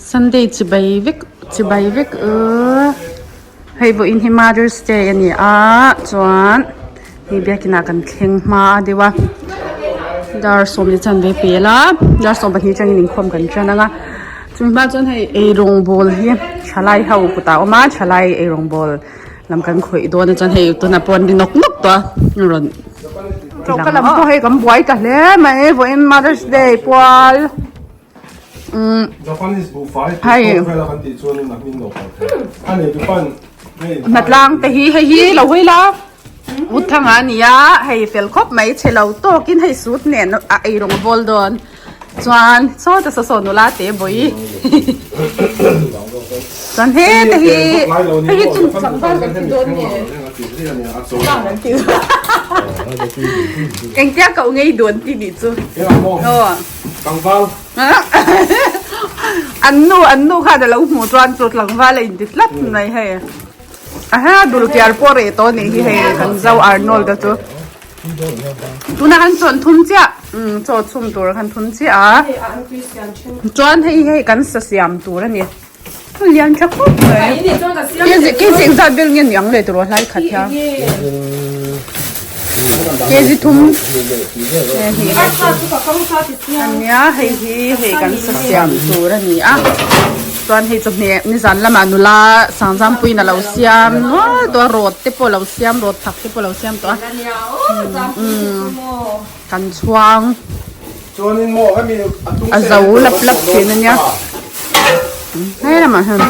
Sunday chibai vek chibai vek u hei pawh in hi mother's day a ni a chuan mi biakin ah kan thleng hma a deuh a dar sawm te chuan an be pel a dar sawm pahnih chuan in inkhawm kan ṭan ang a chumi hma ah chuan hei ei rawng ball hi thalai ho kutah a awm a thalai ei rawng ball. Lam kan khawih dawn a chuan hei tunah pawh an ri nawk nawk tawh a an rawn ti lang a. Ka lam pawh hei kan buai ta hle mai e vawiin mother's day pual umm hei hnatlangte hi hei hi lo hawi la Utthanga a ni a hei fel khawp mai che lo tawkin hei sut nen a eirawng a vawl dawn. Chuan sawi ta sa saw nula te bawi Chuan he te hi Hei hi chung chang zan kan ti dawn nge Chungchang kan ti dawn Engtia koh ngei dawn ti nih chu Aw Tlangval An nu an nu khan a lo hmuh chuan chu Tlangval a in ti slat mai hei Aha dulkiar pawh reh tawh nih hi hei kan zau Arnold te chu Tuna kan chawn thum chiah chaw chhum tur kan thum chiah a chuan hei hei kan sa siam tur a ni lian tha khawp mai kei zing zat ber nge ni ang le tawrh hlai khat hian kei zi thum ania hei hi hei kan sa siam tur a ni a Chuan hei chu hne nizan lama nula Sangzangpuiin a lo siam nual tawh a, rawt te pawh a lo siam, rawt thak te pawh a lo siam tawh a, umm kan chhuang a zo lap lap thin a nia, he lamah hian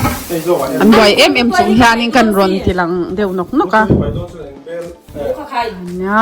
an buai em em chung hianin kan rawn ti lang deuh nawk nawk a, nia.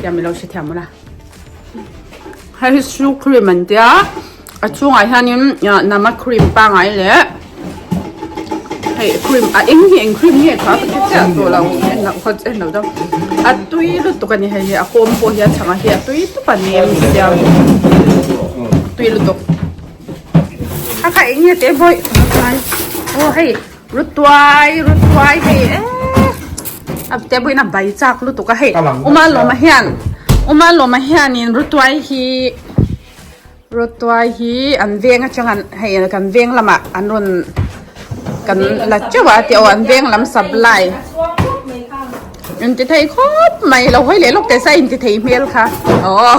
Tia mi lo hre thiam ula. Hei shoe cream an tia. A chunga hianin nama cream pangai le. Hei cream a eng hi eng cream hi kha ka che to lo en lo khat en lo dang. A tui lu tu kan hei a kom po hian changa hi a tui tu kan em tia. Tui lu tu. Kha kha eng te boy. Oh hei Rutuai, rutuai hei e. Ab te buin a bai chak lutuk a hei. Uma loma hian, uma loma hian in rutuai hi rutuai hi an veng atang an hei kan veng lama an rawn kan la chauh a ti aw an veng lam sap lai. In ti thei khawp mai lo hawi leh lawk te sa in ti thei hmel kha. Aww.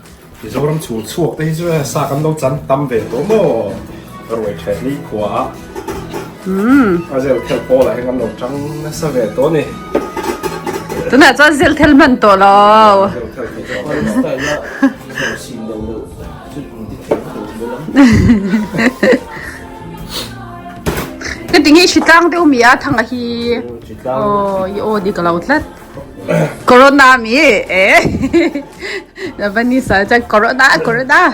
Mizoram chhûng chhuak te hi chu hei sa kan lo chan tam ve tawh maw ka ruai ṭheh ni khua a a zelthel pawl ah hian kan lo ṭang nasa ve tawh a ni tunah chuan zelthel hman tawh lo heti nge hritlang deuh mi a thang ah hi aw i aw dik lo tlat. Corona mi Lebanese ah chuan Corona Corona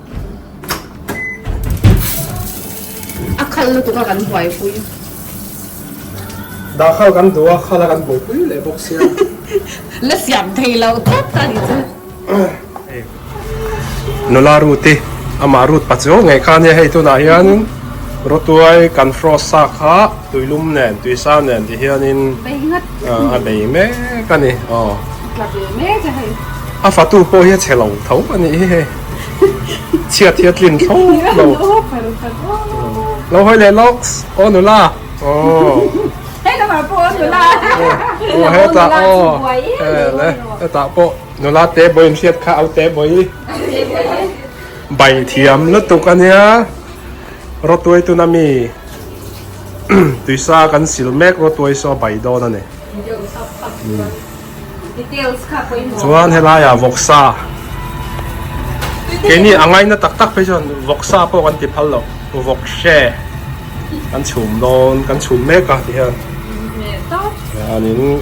a khal lutuk a kan buai pui da khal kan duh a khala kan buai pui leh bawk sia la siam thei lo tawt ta ni chu nula ruti ama rut pa chu nge khan hei tunah hian rotuai kan frost sa kha tuilum nen tuisa nen ti hian in a bei mek a ni aw a fatu pawh hi a chhe lo tho a nih hi hei Chhiat hi a tlin tho lo. Lo hawi leh lawk aw nula. Hei lamah pawh aw nula. Aw heta aw ele hetah pawh nula te bawi in hriat kha aute bawi. Bai thiam lutuk a nia. Rawtuai tuna mi tuisa kan sil mek rawtuai saw a bai dawn a ni. Chuan helaiah vawksa keini a ngaina tak tak phei chuan vawksa pawh kan ti phal lo vawk hre kan chhum dawn kan chhum mek a ti hian chuanin